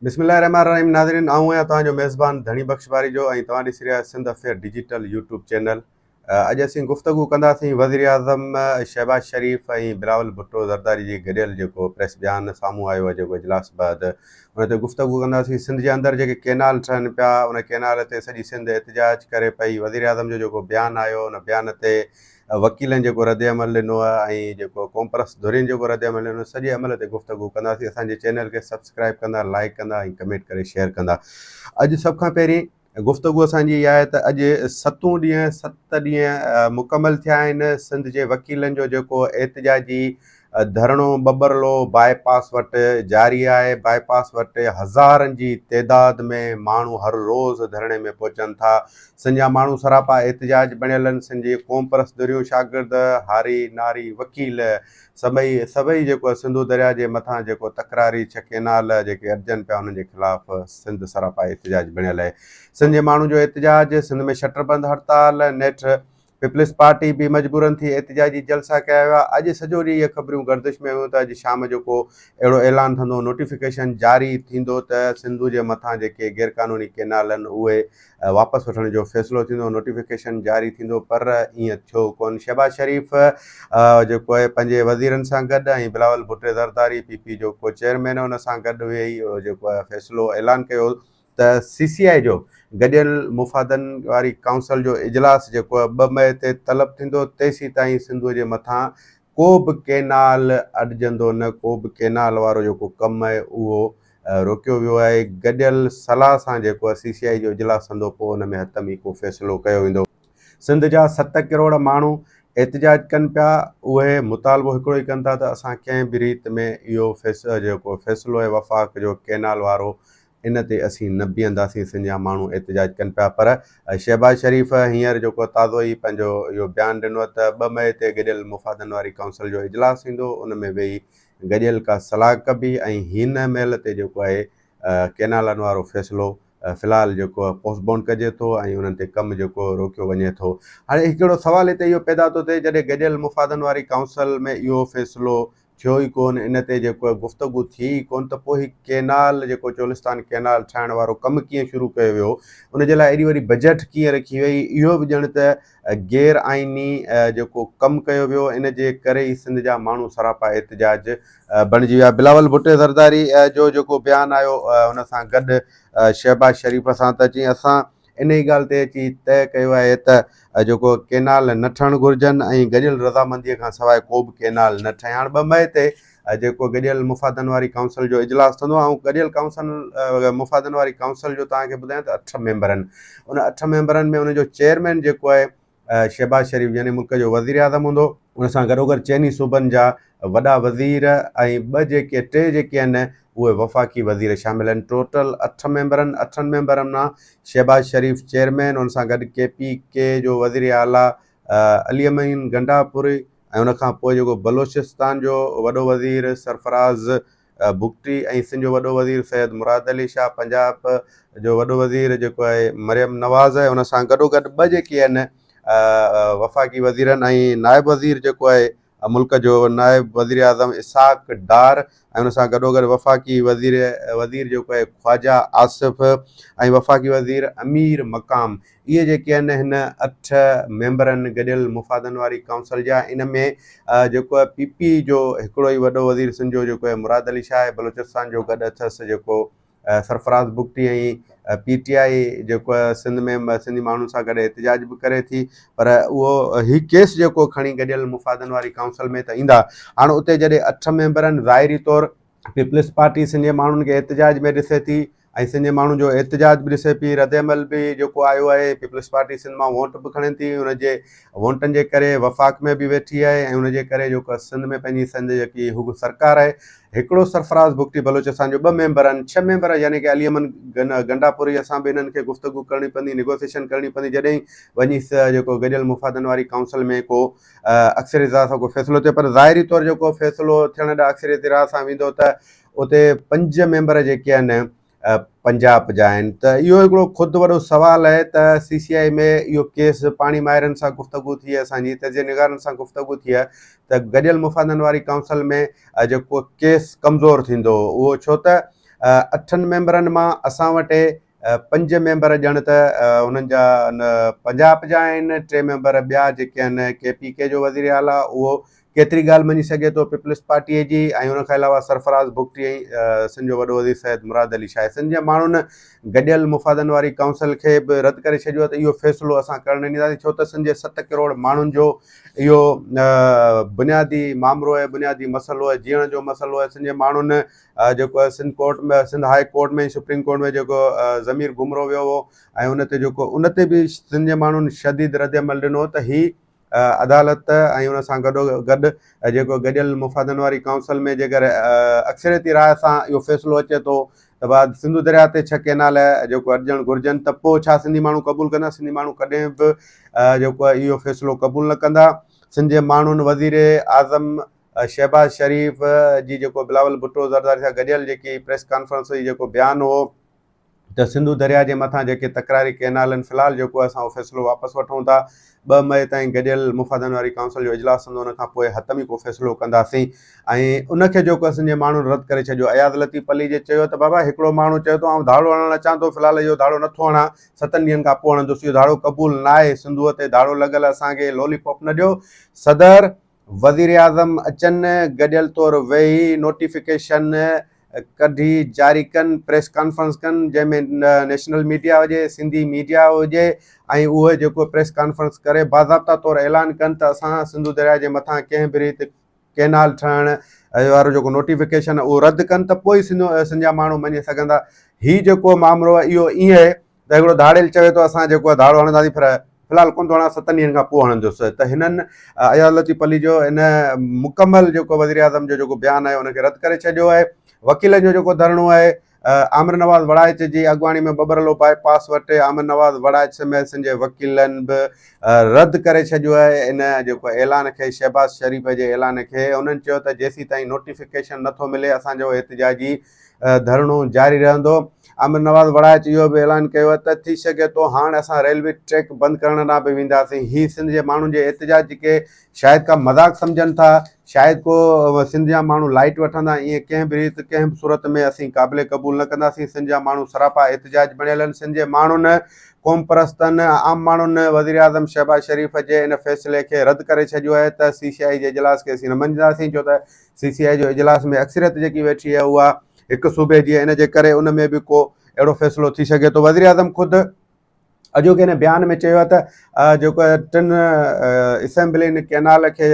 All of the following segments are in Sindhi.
بسم الله الرحمٰن الرحيم ناظرين آئون آهيان توهان جو ميزبان ڌڻي بخش ٻاريجو ۽ توهان ڏسي رهيا Sindh affair digital YouTube channel اڄ اسين گفتگو ڪنداسين وزيراعظم شهباز شريف ۽ بلاول ڀٽو زرداري جي گڏيل جيڪو پريس بيان سامهون آيو آهي جيڪو اجلاس بعد ان تي گفتگو ڪنداسين سنڌ جي اندر جيڪي ڪينال ٺهن پيا ان ڪينال تي سڄي سنڌ احتجاج ڪري پئي وزيراعظم جو جيڪو بيان آيو ان بيان تي وڪيلن جيڪو رد عمل ڏنو آهي ۽ جيڪو قومپرست ڌرين جيڪو رد عمل ڏنو سڄي عمل تي گفتگو ڪنداسين اسان جي چينل کي سبسڪرائب ڪندا لائڪ ڪندا ۽ ڪمينٽ ڪري شيئر ڪندا اڄ سڀ کان پهرين گفتگو اسان جي اها آهي ته اڄ ستون ڏينهن ست ڏينهن مڪمل ٿيا آهن سنڌ جي وڪيلن جو جيڪو احتجاجي ڌرڻو ٻٻرلو باء پاس وٽ جاري آهي، باء پاس وٽ هزارن جي تعداد ۾ ماڻهو هر روز ڌرڻي ۾ پهچن ٿا، سن جا ماڻهو سراپا احتجاج بڻيل آهن، سن جي قومپرست ڌريون شاگرد، هاري، ناري، وڪيل سڀئي سڀئي جيڪو سنڌو درياء جي مٿان جيڪو تڪراري ڇهه ڪئنال جيڪي اڏجن پيا انهن جي خلاف سنڌ سراپا احتجاج بڻيل آهي، سن جي ماڻهن جو احتجاج، سنڌ ۾ شٽر بند هڙتال نيٺ پيپلز پارٽي به مجبورن ٿي احتجاجي جلسا ڪيا ويا. اڄ سڄو ڏينهن اهي خبريون گردش ۾ هيون ته اڄ شام جو ڪو اهڙو اعلان ٿندو، نوٽيفڪيشن جاري ٿيندو ته سنڌو جي مٿان جيڪي غيرقانوني ڪينال آهن اهي واپس وٺڻ جو فيصلو ٿيندو، نوٽيفڪيشن جاري ٿيندو پر ايئن ٿيو ڪونه. شهباز شريف جيڪو اهي پنهنجي وزيرن سان گڏ ۽ بلاول ڀٽي زرداري پي پي جو ڪو چيئرمين ان سان گڏ ويهي جيڪو اهي فيصلو اعلان ڪيو ته سي سي آء جو گڏيل مفادن واري ڪائونسل جو اجلاس جيڪو ٻه مئي تي طلب ٿيندو تيسين تائين سنڌوء جي مٿان ڪو به ڪينال اڏجندو نه ڪو به ڪينال وارو جيڪو ڪم آهي اهو روڪيو ويو آهي گڏيل صلاح سان جيڪو سي سي آء جو اجلاس ٿندو پوء ان ۾ حتم ئي ڪو فيصلو ڪيو ويندو. سنڌ جا ست ڪروڙ ماڻهو احتجاج ڪن پيا اهي مطالبو هڪڙو ئي ڪن ٿا ته اسان ڪنهن به ريت ۾ اهو جيڪو فيصلو آهي وفاق جو ڪينال وارو ان تي اسين نه بيهنداسين سنڌ جا ماڻهو احتجاج ڪن پيا پر شهباز شريف هينئر جيڪو تازو ئي پنهنجو اهو بيان ڏنو ته ٻه مئي تي گڏيل مفادن واري ڪائونسل جو اجلاس ٿيندو ان ۾ ويهي گڏيل ڪا صلاح ڪبي ۽ هن مهل تي جيڪو آهي ڪينالن وارو فيصلو في الحال جيڪو پوسٽ بونڊ ڪجي ٿو ۽ انهن تي ڪم جيڪو روڪيو وڃي ٿو هاڻي هڪڙو سوال هتي اهو پيدا ٿو ٿئي جڏهن گڏيل مفادن واري ڪائونسل ۾ اهو فيصلو ٿيو ئي ڪونه ان تي جيڪو گفتگو ٿي ئي ڪونه ته پوء هي ڪينال جيڪو چولستان ڪينال ٺاهڻ وارو ڪم ڪيئن شروع ڪيو ويو ان جي لاء ايڏي وڏي بجيٽ ڪيئن رکي وئي اهو به ڄڻ ته غير آئيني جيڪو ڪم ڪيو ويو ان جي ڪري ئي سنڌ جا ماڻهو سراپا احتجاج بڻجي ويا بلاول ڀٽي زرداري جو جيڪو بيان آيو ان سان گڏ شهباز شريف سان ته چيائين اسان انهيء ڳالهه تي اچي طئه ڪيو آهي ته جيڪو ڪئنال نه ٺهڻ گهرجن ۽ گڏيل رضامنديء کان سواء ڪو به ڪئنال نه ٺهي. هاڻ ٻه مئي تي جيڪو گڏيل مفادن واري ڪائونسل جو اجلاس ٿيندو آئون گڏيل ڪائونسل مفادن واري ڪائونسل جو توهان کي ٻڌايان ته اٺ ميمبرن ان اٺ ميمبرن ۾ ان جو چيئرمين جيڪو آهي شهباز شريف يعني ملڪ جو وزيراعظم هوندو. ان سان گڏوگڏ چئني صوبن جا وڏا وزير ۽ ٻه جيڪي ٽي جيڪي آهن اهي وفاقي وزير شامل آهن. ٽوٽل اٺ ميمبرن اٺن ميمبرن مان شهباز شريف چيئرمين ان سان گڏ ڪي پي ڪي جو وزير اعليٰ علي امين گنڊاپوري ۽ ان کان پوء جيڪو بلوچستان جو وڏو وزير سرفراز بگٽي ۽ سنڌ جو وڏو وزير سيد مراد علي شاهه پنجاب جو وڏو وزير جيڪو آهي مريم نواز آهي ان سان گڏو گڏ ٻه جيڪي آهن وفاقي وزيرن ۽ نائب وزير جيڪو آهي ملڪ جو نائب وزير اعظم اسحاق ڊار ۽ ان سان گڏو گڏ وفاقي وزير وزير جيڪو آهي خواجا آصف ۽ وفاقي وزير امير مقام اهي جيڪي آهن هن اٺ ميمبرن گڏيل مفادن واري ڪائونسل جا ان ۾ جيڪو پي پي جو هڪڙو ئي وڏو وزير سنڌ جو جيڪو آهي مراد علي شاهه بلوچستان جو گڏ اٿس جيڪو Sarfraz Bugti ۽ P T I جيڪو سنڌ ۾ سنڌي ماڻهن سان گڏ احتجاج به ڪري ٿي پر اهو هي ڪيس جيڪو کڻي گڏيل مفادن واري ڪائونسل ۾ ته ايندا هاڻ اتي جڏهن اٺ ميمبرن ظاهري طور پيپلز پارٽي سنڌي ماڻهن کي احتجاج ۾ ڏسي ٿي ۽ سنڌي ماڻهن جو احتجاج به ڏسي پيئي ردعمل به جيڪو آيو آهي پيپلز پارٽي سنڌ مان ووٽ به کڻي ٿي ان جي ووٽن جي ڪري وفاق ۾ به ويٺي آهي ۽ ان جي ڪري جيڪو سنڌ ۾ پنهنجي سنڌ جيڪي هڪ سرڪار آهي هڪڙو سرفراز بگٽي بلوچ اسان جو ٻه ميمبر آهن ڇهه ميمبر يعني ڪي علي امن گنڊاپوري اسان به هنن کي گفتگو ڪرڻي پوندي نيگوسيشن ڪرڻي پوندي جڏهن وڃي جيڪو گڏيل مفادن واري ڪائونسل ۾ ڪو اڪثريت راء سان ڪو فيصلو ٿيو پر ظاهري طور جيڪو فيصلو ٿيڻ ڏانهن اڪثريت راء سان ويندو ته اتي پنج ميمبر جيڪي آهن پنجاب جا آهن ته اهو هڪڙو خود وڏو سوال آهي ته سي سي آء ۾ اهو ڪيس پاڻي ماهرن سان گفتگو ٿي آهي اسان جي تجزئي نگارن سان گفتگو ٿي آهي ته گڏيل مفادن واري ڪائونسل ۾ جيڪو ڪيس ڪمزور ٿيندو اهو ڇو ته اٺن ميمبرن مان اسان وٽ پنج ميمبر ڄڻ ته انهن جا پنجاب جا آهن ٽي ميمبر ٻيا جيڪي آهن ڪي پي ڪي جو وزير اعليٰ اهو ڪيتري ڳالهه مڃي سگهي ٿو پيپلز پارٽيء جي ۽ ان کان علاوه سرفراز بگٽي ۽ سن جو وڏو وزير سيد مراد علي شاهه سن جي ماڻهن گڏيل مفادن واري ڪائونسل کي به رد ڪري ڇڏيو ته اهو فيصلو اسان ڪرڻ نه ڏينداسين ڇو ته سن جي ست ڪروڙ ماڻهن جو اهو بنيادي مامرو آهي بنيادي مسئلو آهي جيئڻ جو مسئلو آهي سن جي ماڻهن جيڪو Sindh court ۾ Sindh high court ۾ supreme court ۾ جيڪو ضمير گمرو ويو هو ۽ ان تي جيڪو ان تي به سنڌ جي ماڻهن شديد رد عمل ڏنو ته هي عدالت ۽ ان سان گڏو گڏ جيڪو گڏيل مفادن واري ڪائونسل ۾ جيڪر اڪثريتي راء سان اهو فيصلو اچي ٿو ته بعد سنڌو درياء تي ڇهه ڪينال جيڪو اڏجڻ گهرجن ته پوء ڇا سنڌي ماڻهو قبول ڪندا سنڌي ماڻهو ڪڏهن به جيڪو اهو فيصلو قبول نه ڪندا سنڌ جي ماڻهن وزير اعظم شهباز شريف جي جيڪو بلاول ڀٽو زرداري سان گڏيل جيڪي پريس ڪانفرنس هئي جيڪو بيان هو ته سنڌو درياء جي مٿان جيڪي تڪراري ڪئنالن في الحال جيڪو اسان اهو فيصلو واپس وٺون ٿا ٻه مئي تائين گڏيل مفادن واري ڪائونسل جو اجلاس ٿيندو ان کان پوء حتمي ڪو فيصلو ڪنداسين ۽ ان کي جيڪو اسان جي ماڻهن رد ڪري ڇڏيو اياز لطيف پلي جي چيو ته بابا هڪڙو ماڻهو چيو ته آئون ڌاڙو هڻڻ اچان ٿو في الحال اهو ڌاڙو نٿو هڻان ستن ڏينهن کان پوء هڻندوس اهو ڌاڙو قبول ناهي سنڌوء تي ڌاڙو لڳل اسان کي لولي پاپ نه ڏيو صدر وزيراعظم اچن، گڏيل طور ويهي نوٽيفڪيشن ڪڍي جاري ڪن، پريس ڪانفرنس ڪن، جنهن ۾ نيشنل ميڊيا هجي، سنڌي ميڊيا هجي ۽ اهي جيڪو پريس ڪانفرنس ڪري باضابطا طور اعلان ڪن ته اسان سنڌو درياء جي مٿان ڪنهن به ريت ڪينال ٺهڻ وارو جيڪو نوٽيفڪيشن اهو رد ڪن ته پوء سنڌ جا ماڻهو مڃي سگهندا. هي جيڪو مامرو اهو ايئن ته هڪڙو ڌاڙيل چوي ٿو اسان جيڪو آهي ڌاڙو هڻنداسين پر في الحال ڪونه ٿو هڻان ستن ڏينهن کان پوء هڻندس ته هنن اياز لطيف علي جو ان مڪمل جيڪو وزيراعظم جو جيڪو بيان آهي ان کي رد ڪري ڇڏيو آهي وڪيلن جو جيڪو ڌرڻو آهي عامر نواز وڙائچ جي اڳواڻي ۾ ٻٻرلو باء پاس وٽ عامر نواز وڙائچ سميت سن جي وڪيلن به رد ڪري ڇڏيو آهي ان جيڪو اعلان کي شهباز شريف جي اعلان کي انهن چيو ته جيسين تائين نوٽيفڪيشن نٿو ملي اسان جو احتجاجي ڌرڻو جاري رهندو. آمر نواز وڙائچ اهو به اعلان ڪيو ته ٿي سگهي ٿو هاڻ اسان ريلوي ٽريڪ بند ڪرڻ ڏانهن به وينداسين، هي سنڌ جي ماڻهن جي احتجاج جي ڪي شايد ڪا مذاق سمجهن ٿا، شايد ڪو سنڌ جا ماڻهو لائيٽ وٺندا، ائين ڪنهن به ريت ڪنهن به صورت ۾ اسين قابل قبول نه ڪنداسين، سنڌ جا ماڻهو سراپا احتجاج بڻيل آهن، سنڌ جي ماڻهن، قومپرستن، عام ماڻهن وزيراعظم شهباز شريف جي ان فيصلي کي رد ڪري ڇڏيو آهي ته سي سي آء جي اجلاس کي اسين نه مڃينداسين ڇو ته سي سي آء جو اجلاس ۾ اڪثريت جيڪي ويٺي آهي اها هڪ صوبي جي ان جي ڪري ان ۾ به ڪو اهڙو فيصلو ٿي سگهي ٿو وزيراعظم خود اڄوڪي هن بيان ۾ چيو ته جيڪو ٽن اسيمبلين ڪينال کي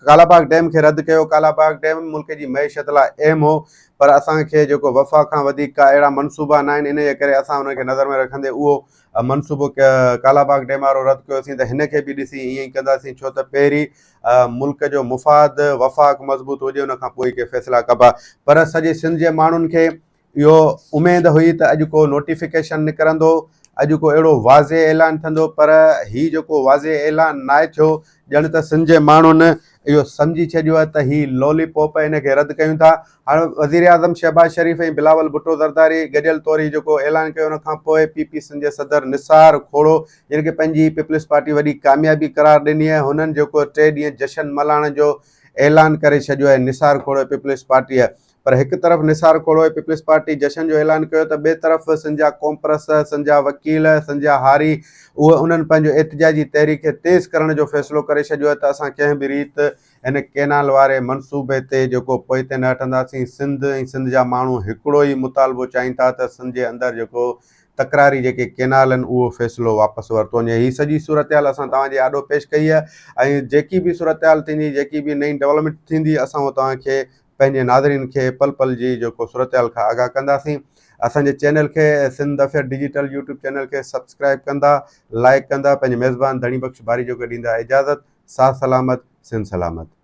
ڪالاباغ ڊيم کي رد ڪيو ڪالاباغ ڊيم ملڪ جي معيشت لاء اهم هو پر اسانکي جيڪو وفا کان وڌيڪ ڪا اهڙا منصوبا نه آهن ان جي ڪري اسان ان کي نظر ۾ رکندي اهو منصوبو ڪالاباغ ڊيم وارو رد ڪيوسين ته هن کي به ڏسي ائين ڪنداسين ڇو ته پهرين ملڪ جو مفاد وفاق مضبوط هجي ان کان پوء ئي ڪي فيصلا ڪبا پر سڄي سنڌ جي ماڻهن کي اهو اميد هئي ته اڄ ڪو نوٽيفڪيشن نڪرندو اڄ ڪو اهڙو واضح اعلان ٿيندو پر هي جيڪو واضح اعلان ناهي ٿيو ڄڻ ته سنڌ جي ماڻهن اهو سمجهي ڇڏيو آهي ته هي لولي پوپ ان کي رد ڪيون ٿا هاڻ وزير اعظم شهباز شريف ۽ بلاول ڀٽو زرداري گڏيل طور هي جيڪو اعلان ڪيو ان کان پوء پي پي سنڌ جي صدر نثار کهڙو جن کي پنهنجي پيپلز پارٽي وڏي ڪاميابي قرار ڏني آهي هنن جيڪو ٽي ڏينهن جشن ملهائڻ جو اعلان ڪري ڇڏيو آهي نثار کوڙوي پيپلز پارٽيء پر هڪ طرف نثار کوڙوي پيپلز پارٽي جشن جو اعلان ڪيو ته ٻئي طرف سنجا ڪومپرس سنجا وڪيل سنجا هاري اهي انهن پنهنجو احتجاجي تحريڪ کي تيز ڪرڻ جو فيصلو ڪري ڇڏيو آهي ته اسان ڪنهن به ريت هن ڪينال واري منصوبي تي جيڪو پوئتي نه هٽنداسين سنڌ ۽ سنڌ جا ماڻهو هڪڙو ئي مطالبو چاهين ٿا ته سنجي اندر جيڪو تڪراري جيڪي ڪينال آهن اهو فيصلو واپس ورتو وڃي هي سڄي صورتحال اسان توهان جي آڏو پيش ڪئي آهي ۽ جيڪي به صورتحال ٿيندي جيڪي به نئين ڊولپمينٽ ٿيندي اسان اهو توهان کي پنهنجي ناظرين کي پل پل جي جيڪو صورتحال کان آگاهه ڪنداسين اسان جي چينل کي Sindh affair digital YouTube channel کي سبسڪرائب ڪندا لائيڪ ڪندا پنهنجي ميزبان ڌڻي بخش باري جوڳي ڏيندا اجازت ساھ سلامت سنڌ سلامت.